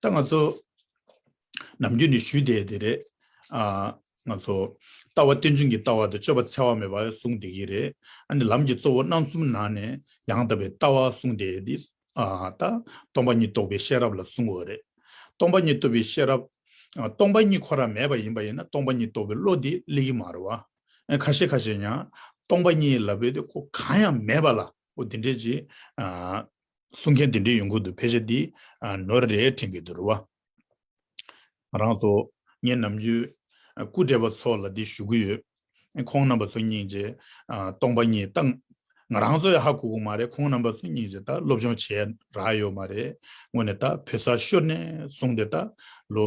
ད་ང་ཚོ་ནམ་རྒྱུན་ནས་ཞུས་བསྡད་དེ་རེད། ང་ཚོ་ལྟ་བ་རྟེན་འབྱུང་གི་ལྟ་བ་དང་སྤྱོད་པ་འཚེ་བ་མེད་པ་གསུངས་བསྡད་ཀྱི་རེད། ཨ་ནི་ལམ་གྱི་གཙོ་བོ་རྣམ་གསུམ་ནང་ནས་ཡང་དག་པའི་ལྟ་བ་གསུངས་བསྡད་དེ། ད་སྟོང་པ་ཉིད་རྟོགས་པའི་ཤེས་རབ་ལ་གསུངས་འོ་རེད། སྟོང་པ་ཉིད་རྟོགས་པའི་ཤེས་རབ། སྟོང་པ་ཉིད་ཁོ་རང་མེད་པ་ཡིན་པ་ཡིན་ན་སྟོང་པ་ཉིད་རྟོགས་པའི་བློ་དེ་གླེགས་ཡིན་མ་རེད་བ། ཁ་ཤས་ཁ་ཤས་ཡང་སྟོང་པ་ཉིད་ལབ་པའི་དེ་ཁོ་གང་ཡང་མེད་པ་ལ་ཨོ་དེ་འདྲས་ཀྱི། གསུང་མཁན་དེ་འདྲའི་ཡོང་ཁུལ་དུ་ཕལ་ཆེར་འདི་ནོར་རེད་དྲན་གི་འདུག་རེད་བ། ང་རང་ཚོ་ངའི་ནམ་རྒྱུན་སྐུ་བགྲེས་པ་ཚོ་ལ་འདི་ཞུ་གི་ཡོད། ཁོང་རྣམ་པ་ཚོ་སྙིང་རྗེ་སྟོང་པ་ཉིད་ད། ང་རང་ཚོ་ཡང་ཧ་གོ་གོ་མ་རེད་ཁོང་རྣམ་པ་ཚོ་སྙིང་རྗེ་ད་སློབ་སྦྱོང་བྱས་རག་ཡོད་མ་རེད་སྔོན་ནས་ད་བོད་ས་ཤོར་ནས་བཟུང་སྟེ་ད་ལོ་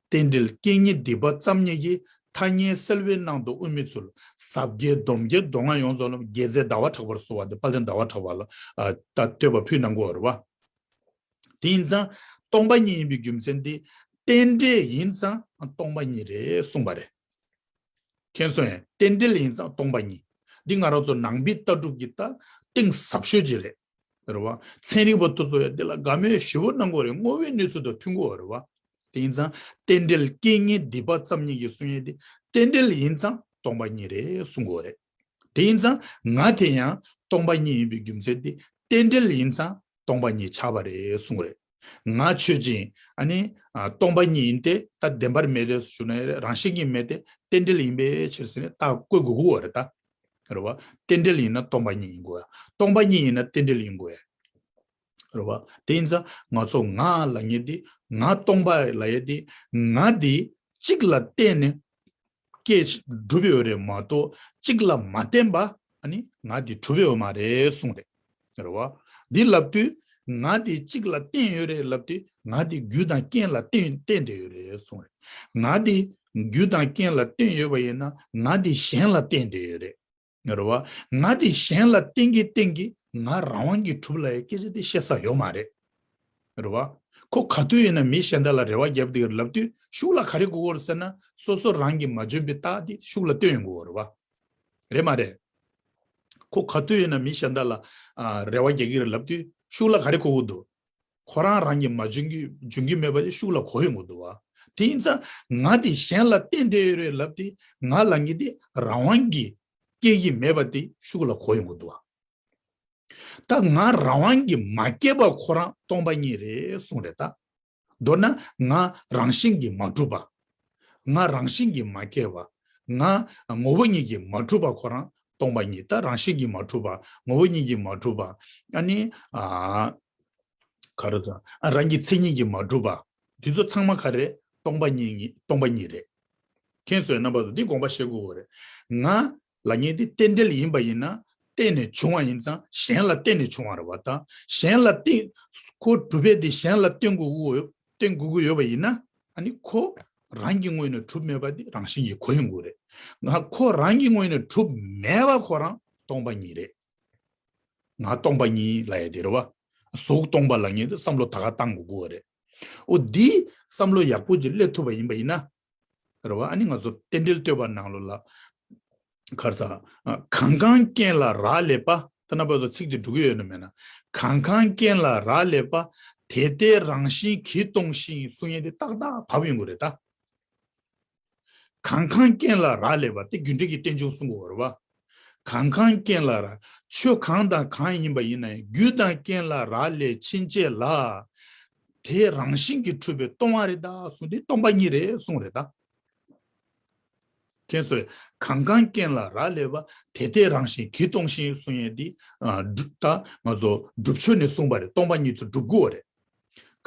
རྟེན་འབྲེལ་རྐྱེན་ངན་སྡིག་པ་བརྩམ་ཉེས་ཀྱི་ཐ་སྙད་སེལ་བའི་གནང་དོན་དབུ་མེད་ཚུལ་ཟབ་རྒྱའི་སྡོམ་རྒྱལ་མདོ་སྔགས་ཡོངས་རྫོགས་ལམ་རྒྱས་རྩལ་ཟླ་བ་གྲགས་པར་གསོལ་བ་འདེབས་དཔལ་ལྡན་ཟླ་བ་གྲགས་པ་ལ་བསྟོད་པ་ཕུད་ནང་སྐུ་འོར་བ། དེ་ཡིན་ཙང་སྟོང་པ་ཉིད་ཡིན་པའི་རྒྱུ་མཚན་དེ་རྟེན་འབྲེལ་ཡིན་ཙང་སྟོང་པ་ཉིད་རེད་གསུངས་པ་རེད། མཁྱེན་གསུང་ཡང་རྟེན་འབྲེལ་ཡིན་ཙང་སྟོང་པ་ཉིད། འདི་ང་རང་ཚོ་ནང་པའི་ལྟ་གྲུབ་ཀྱི་ལྟ་སྟེང་ཟབ་ཤོས་ཅིག་རེད། རེད་བ། ཚན་རིག་པ་དུ་ཚོ་ཡང་འདི་ལ་དགའ་མོས་ཞེ་བོ་གནང་དགོས་རེད་དངོས་བོའི་གནས་ཚུལ་དང་མཐུན་དགོས་རེད་བ། དེ་ཡིན་ཙང་རྟེན་འབྲེལ་རྐྱེན་ངན་སྡིག་པ་ཙམ་ཉིད་ཀྱི་གསུང་ཡན་དེ་རྟེན་འབྲེལ་ཡིན་ཙང་སྟོང་པ་ཉིད་རེད་གསུང་དགོས་རེད། དེ་ཡིན་ཙང་ང་དེ་ཡང་སྟོང་པ་ཉིད་ཡིན་པའི་རྒྱུ་མཚན་དེ་རྟེན་འབྲེལ་ཡིན་ཙང་སྟོང་པ་ཉིད་ཆགས་པ་རེད་གསུང་རེད། ང་ཆོས་ཅན། ནི། སྟོང་པ་ཉིད་ཡིན་ཏེ་ད་བདེན་པར་མེད་དེ་ཞུ་ན་རང་བཞིན་གྱིས་མེད་དེ་རྟེན་འབྲེལ་ཡིན་པའི་ཕྱིར་ཟེར་ནས་རྟགས་བཀོད་དགོས་དགོས་བ་རེད་ད། རེད་བ། རྟེན་འབྲེལ་ཡིན་ན་སྟོང་པ་ཉིད་ཡིན་དགོས། སྟོང་པ་ཉིད་ཡིན་ན་རྟེན་འབྲེལ་ཡིན་དགོས། རེད་བ། དེ་ཡིན་ཙང་ང་ཚོ་ང་ལ་ངེས་ཏེ་ང་སྟོང་པ་ལ་ཡོད་དེ་ང་དེ་གཅིག་ལ་བརྟེན་ནས་སྐྱེས། གྲུབ་པའི་འོས་རེད་མ་གཏོགས་གཅིག་ལ་མ་བརྟེན་པ། ནི། ང་དེ་གྲུབ་པའི་འོས་མ་རེད་གསུངས། རེད་རེད་བ། འདི་ལབ་དུས། ང་དེ་གཅིག་ལ་བརྟེན་ཡོད་རེད་ལབ་དུས། ང་དེ་རྒྱུ་དང་རྐྱེན་ལ་བརྟེན་བརྟེན་བསྡད་ཡོད་རེད་གསུངས། རེད། ང་དེ། རྒྱུ་དང་རྐྱེན་ལ་བརྟེན་ཡོད་པ་ཡིན་ན། ང་དེ་གཞན་ལ་བརྟེན་བསྡད་ཡོད་རེད། ངར་བ། ང་དེ་གཞན་ལ་བསྟེན་གྱི་བསྟེན་གྱི་ང་རང་དབང་གིས་གྲུབ་ལ་ཡ་སྐད་ཆ་དེ་བཤད་ས་ཡོད་མ་རེད། ངར་བ། ཁོ་ག་དུས་ཡིན་ན་མི་གཞན་དག་ལ་རེ་བ་བརྒྱབ་འདུག་ལབ་དུས་ཤུགས་ལ་ག་རེ་དགོས་སྐོར་ཟེར་ན་སོ་སོ་རང་གིས་མ་འཇོན་པའི་རྟགས་དེ་ཤུགས་ལ་བཏོན་ཡོང་དགོས་ངར་བ། རེད་མ་རེད། ཁོ་ག་དུས་ཡིན་ན་མི་གཞན་དག་ལ་རེ་བ་རྒྱག་གི་རེད་ལབ་དུས་ཤུགས་ལ་ག་རེ་དགོས་དགོས་འདུག་ཁོ་རང་རང་གིས་མ་འཇོན་གྱི་མེད་པ་ལས་ཤུགས་ལ་གོ་ཡོད་མགོ་འདུག་བ། དེ་ཡིན་ཙང་ང་དེ་གཞན་ལ་བསྟན་བསྡད་ཡོད་རེད་ལབ་དེ་ང་ལ་ངེད་དེ་རང་དབང་གིས་སྐྱེལ་གྱི་མེད་པ་དེ་ཤུགས་ལ་གོ་ཡོད་མགོ་འདུག་བ། ད་ང་རང་དབང་གིས་མ་སྐྱེལ་པར་ཁོ་རང་སྟོང་པ་ཉིད་རེད་གསུངས་རེད་ད། མདོར་ན་ང་རང་བཞིན་གྱིས་མ་གྲུབ་པ། ང་རང་བཞིན་གྱིས་མ་སྐྱེས་པ། ང། ངོ་བོ་ཉིད་ཀྱིས་མ་གྲུབ་པ་ཁོ་རང་སྟོང་པ་ཉིད་ད་རང་བཞིན་གྱིས་མ་གྲུབ་པ། ངོ་བོ་ཉིད་ཀྱིས་མ་གྲུབ་པ། ཨ་ནི། ག་རེ་དང། རང་གི་མཚན་ཉིད་ཀྱིས་མ་གྲུབ་པ། འདི་ཚོ་ཚང་མ་ག་རེ། སྟོང་པ་ཉིད་རེད། མཁྱེན་བཟོད་རྣམ་པ་ཚོ་འདི་དགོངས་པ་བཞེས་དགོས་རེད། ང། ལ་ཉེ་སྟེ་རྟེན་འབྲེལ་ཡིན་པ་ཡིན་ན་བརྟེན་ནས་བྱུང་བ་ཡིན་ཙང་གཞན་ལ་བརྟེན་ནས་བྱུང་བ་རེད་བ་དང་གཞན་ལ་བརྟེན། ཁོ་གྲུབ་པས་དེ་གཞན་ལ་བརྟེན་དགོས་ཀྱི་ཡོད་པ་ཡིན་ན་ནི་ཁོ་རང་གི་ངོས་ནས་གྲུབ་མེད་པ་དེ་རང་བཞིན་གྱིས་གོ་ཡོང་དགོས་རེད། ཁོ་རང་གི་ངོས་ནས་གྲུབ་མེད་པ་ཁོ་རང་སྟོང་པ་ཉིད་རེད། ང་སྟོང་པ་ཉིད་ལ་ཡ་དེ་རེད་བ། གཟུགས་སྟོང་པ་ལ་ངེས་དེ་བསམ་བློ་ད་ག་བཏང་དགོས་དགོས་བ་རེད། འོ་འདིས་བསམ་བློ་ཡག་པོ་ཅིག་སླེབས་ཐུབ་པ་ཡིན་པ་ཡིན་ན་རེ་བ་ཨ་ནི་ང་ཚོ་རྟེན་འབྲེལ་ལྟོས་པ་ནང་ལོ་ལ་གར་ད་གང་གང་རྐྱེན་ལ་རག་ལས་པ་ཐ་ན་པ་ཚོ་ཚིག་དེ་འབྲུ་གི་ཡོད་ན་མེད་ན་གང་གང་རྐྱེན་ལ་རག་ལས་པ་དེ་ལྟའི་རང་བཞིན་གྱིས་སྟོང་ཞིང་གསུང་ཡན་དེ་ཏག་ཏག་བབས་ཡོང་གི་རེད་ད། གང་གང་རྐྱེན་ལ་རག་ལས་པ་དེ་རྒྱུ་འབྲས་ཀྱི་རྟེན་འབྱུང་གསུང་གི་འོ་རེ་བ་གང་གང་རྐྱེན་ལ་རག། ཆོས་གང་དང་གང་ཡིན་པ་ཡིན་ན་ཡང་རྒྱུ་དང་རྐྱེན་ལ་རག་ལས་ཕྱིན་ཆད་ལ། དེ་རང་བཞིན་གྱིས་འཁྲུལ་པའི་སྟོང་བ་རེད་ད་གསུངས་ཏེ་སྟོང་པ་ཉིད་རེད་གསུངས་རེད་ད། ཁྱེད་ཚོས་གང་གང་རྐྱེན་ལ་རག་ལས་པ་དེ་དེ་རང་བཞིན་གྱིས་སྟོང་ཞིང་གསུངས་ཡས་དེ། ད་ང་ཚོ་སྒྲུབ་ཆོས་ནས་གསུངས་པ་རེད་སྟོང་པ་ཉིད་ཚུལ་སྒྲུབ་དགོས་བ་རེད།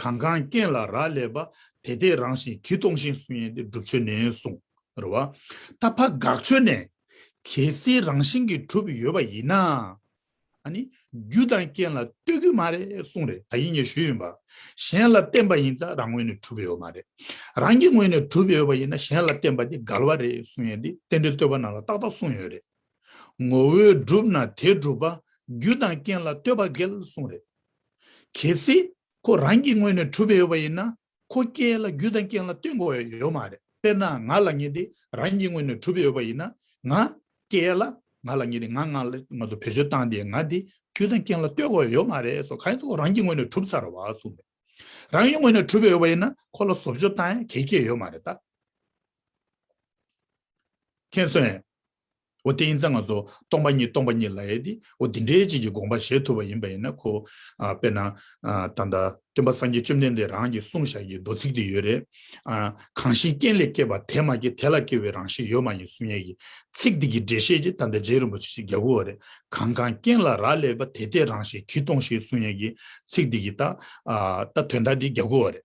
གང་གང་རྐྱེན་ལ་རག་ལས་པ། དེ་དེ་རང་བཞིན་གྱིས་སྟོང་ཞིང་སུན་ཡན་ཏེ་བསྒྲུབ་ཆོས་ནས་གསུངས། རེ་བ། ད་ཕ་དགག་ཆོས་ནས། གལ་སྲིད་རང་བཞིན་གྱིས་གྲུབ་ཡོད་པ་ཡིན་ན། ཨ་ནི། རྒྱུ་དང་རྐྱེན་ལ་ལྟོས་གི་མ་རེད་གསུངས་རེ་ད་ཡིན་ངས་ཞུས་ཡིན་པ། གཞན་ལ་བརྟེན་པ་ཡིན་ཙང་རང་ངོས་ནས་གྲུབ་ཡོད་མ་རེད། རང་གི་ངོས་ནས་གྲུབ་ཡོད་པ་ཡིན་ན་གཞན་ལ་བརྟེན་པ་དེ་དགག་བ་རེད་གསུངས་ཡན་ཏེ་རྟེན་འབྲེལ་ལྟོས་པ་ནང་ལ་ཏག་ཏག་གསུངས་ཡོད་རེད། ངོ་བོས་གྲུབ་ན་དེ་གྲུབ་པ། རྒྱུ་དང་རྐྱེན་ལ་ལྟོས་པ་འགལ་གསུངས་རེད། གལ་སྲིད་ཁོ་རང་གི་ངོས་ནས་གྲུབ་པའི་ཡོད་པ་ཡིན་ན་ཁོ་སྐད་ལ་རྒྱུ་དང་རྐྱེན་ལ་ལྟོས་དགོས་ཡ་ཡོད་མ་རེད་དཔེར་ན་ང་ལ་ངེས་ཏེ་རང་གི་ངོས་ནས་གྲུབ་པའི་ཡོད་པ་ཡིན་ན་ང་སྐད་ལ་ང་ལ་ངེས་ཏེ་ང་ང་ལ་ང་ཚོ་བེད་སྤྱོད་བཏང་སྟེ་ང་དེ་རྒྱུ་དང་རྐྱེན་ལ་ལྟོས་དགོས་ཡ་ཡོད་མ་རེད་སོ་ག་ཡིན་ཚེ་ཁོ་རང་གི་ངོས་ནས་གྲུབ་ཚར་བ་སུ་མེད་རང་གི་ངོས་ནས་གྲུབ་པའི་ཡོད་པ་ཡིན་ན་ཁོ་ལ་བཟོ་བཅོས་བཏང་ཡ་གལ་ཁྱད་ཡོད་མ་རེད་ད། མཁྱེན་སོན། འོ་དེ་ཡིན་ཙང་ང་ཚོ་སྟོང་པ་ཉིད་སྟོང་པ་ཉིད་ལ་ཡེ་སྟེ་འོ་འདི་འདྲའི་ཅིག་གི་དགོངས་པ་བཞེས་ཐུབ་པ་ཡིན་པ་ཡིན་ན་ཁོ། དཔེར་ན། ད་ལྟ་སྟོན་པ་སངས་རྒྱས་བཅོམ་ལྡན་འདས་རང་གི་གསུང་བཤགས་ཀྱི་མདོ་ཚིག་དེ་ཡོད་རེད། གང་ཞིག་རྐྱེན་ལས་སྐྱེས་པ་དེ་མ་སྐྱེས་དེ་ལ་སྐྱེ་བའི་རང་བཞིན་ཡོད་མ་ཡིན་གསུང་སྙན་གྱི་ཚིག་དེ་གི་འགྲེལ་བཤད་ཅིག་ད་ལྟ་རྗེ་རིན་པོ་ཆེ་ཞིག་རྒྱག་དགོས་བ་རེད། གང་གང་རྐྱེན་ལ་རག་ལས་པ་དེ་དེ་རང་བཞིན་གྱིས་སྟོང་ཞེས་གསུང་སྙན་གྱི་ཚིག་དེ་གི་ད་ལྟ་དོན་དག་འདི་རྒྱག་དགོས་བ་རེད།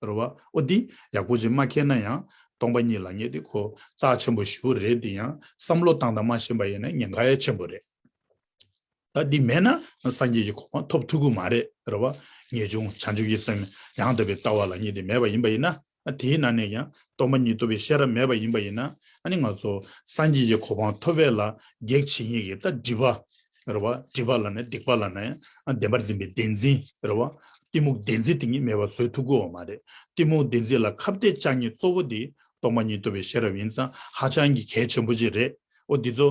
རེད། བ་ཨོ་འདི་ཡག་པོ་ཅིག་མ་མཁྱེན་ན་ཡང་སྟོང་པ་ཉིད་ལ་ངེས་ཏེ་གོ་རྩག་ཆེན་པོ་བཞི་བོ་རེད་འདི་ཡང་བསམ་བློ་བཏང་དང་མ་ཤེས་པ་ཡིན་ན་ཉེན་ཁ་ཡ་ཆེན་པོ་རེད། ད་འདི་མེད་ན་སངས་རྒྱས་ཀྱི་གོ་འཕང་ཐོབ་ཐུ་གུ་མ་རེད། རེད་བ། ངེས་འབྱུང་བྱང་ཆུབ་ཀྱི་སེམས་ཡང་དག་པའི་ལྟ་བ་ལ་གཉིས་དེ་མེད་པ་ཡིན་པ་ཡིན་ན་དེའི་ནང་ནས་ཀྱང་སྟོང་པ་ཉིད་རྟོགས་པའི་ཤེས་རབ་མེད་པ་ཡིན་པ་ཡིན་ན་ནི་ང་ཚོ་སངས་རྒྱས་ཀྱི་གོ་འཕང་ཐོབ་བས་ལ་གེགས་བྱེད་ངེས་ཀྱི་ད་སྒྲིབ་པ་རེད་བ། སྒྲིབ་པ་ལ་ནི་སྡིག་པ་ལ་ནི་བདེན་པར་འཛིན་པའི་བདེན་འཛིན་རེད་བ། གཏི་མུག་བདེན་འཛིན་དེ་ཉིད་མེད་པར་བཟོད་ཐུབ་དགོས་བ་མ་རེད། གཏི་མུག་བདེན་འཛིན་ལ་ཁ་བརྡའི་ལྕགས་སྙིགས་གཙོ་བོ་དེ་རྟོགས་པ་ཉིད་ཐུབ་པའི་ཤེས་རབ་ཡིན་ཙང་ཧ་ཅང་གི་གལ་ཆེན་པོ་ཅིག་རེད་འོ། འདི་ཚོ།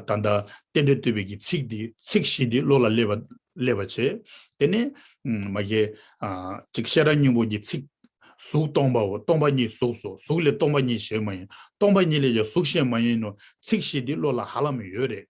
ད་ལྟ། རྟེན་འབྲེལ་བསྟོད་པའི་གི་ཚིག་འདི་ཚིག་བཞི་འདི་བློ་ལ་སླེབས་པ་བྱེད། དེ་ནས། མ་གཞི། ཅིག་ཤེས་རབ་སྙིང་པོ་གི་ཚིག། གཟུགས་སྟོང་པའོ་སྟོང་པ་ཉིད་གཟུགས་སོ་གཟུགས་ལས་སྟོང་པ་ཉིད་གཞན་མ་ཡིན། སྟོང་པ་ཉིད་ལས་ཀྱང་གཟུགས་གཞན་མ་ཡིན་ནོ། ཚིག་བཞི་འདི་བློ་ལ་ཧ་ལམ་ཡོད་རེད།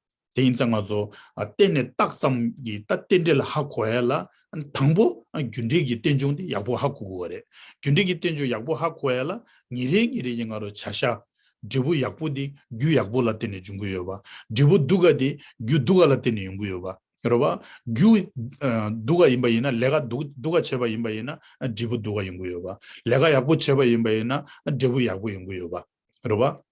དེ་ཡིན་ཚེ་ང་ཚོ་གཏན་ནས་རྟགས་ཙམ་གྱི་ལྟ་རྟེན་འབྲེལ་ཧ་གོ་ཡ་ལ། དང་པོ་རྒྱུ་འབྲས་ཀྱི་རྟེན་འབྱུང་དེ་ཡག་པོ་ཧ་གོ་དགོས་བ་རེད། རྒྱུ་འབྲས་ཀྱི་རྟེན་འབྱུང་ཡག་པོ་ཧ་གོ་ཡ་ལ་ཉིན་རེ་ཉིན་རེ་ཡི་ང་རོ་བྱ་གཞག། འབྲས་བུ་ཡག་པོ་དེ་རྒྱུ་ཡག་པོ་ལ་རྟེན་ནས་འབྱུང་གི་ཡོད་བ། འབྲས་བུ་སྡུག་ག་དེ་རྒྱུ་སྡུག་ག་ལ་རྟེན་ནས་ཡོང་གི་ཡོད་བ་རེད་བ། རྒྱུ་སྡུག་ག་ཡིན་པ་ཡིན་ན་ལས་ཀ་སྡུག་ག་བྱས་པ་ཡིན་པ་ཡིན་ན་འབྲས་བུ་སྡུག་ག་ཡོང་གི་ཡོད་བ། ལས་ཀ་ཡག་པོ་བྱས་པ་ཡིན་པ་ཡིན་ན་འབྲས་བུ་ཡག་པོ་ཡོང་གི་ཡོད་བ་རེད་བ།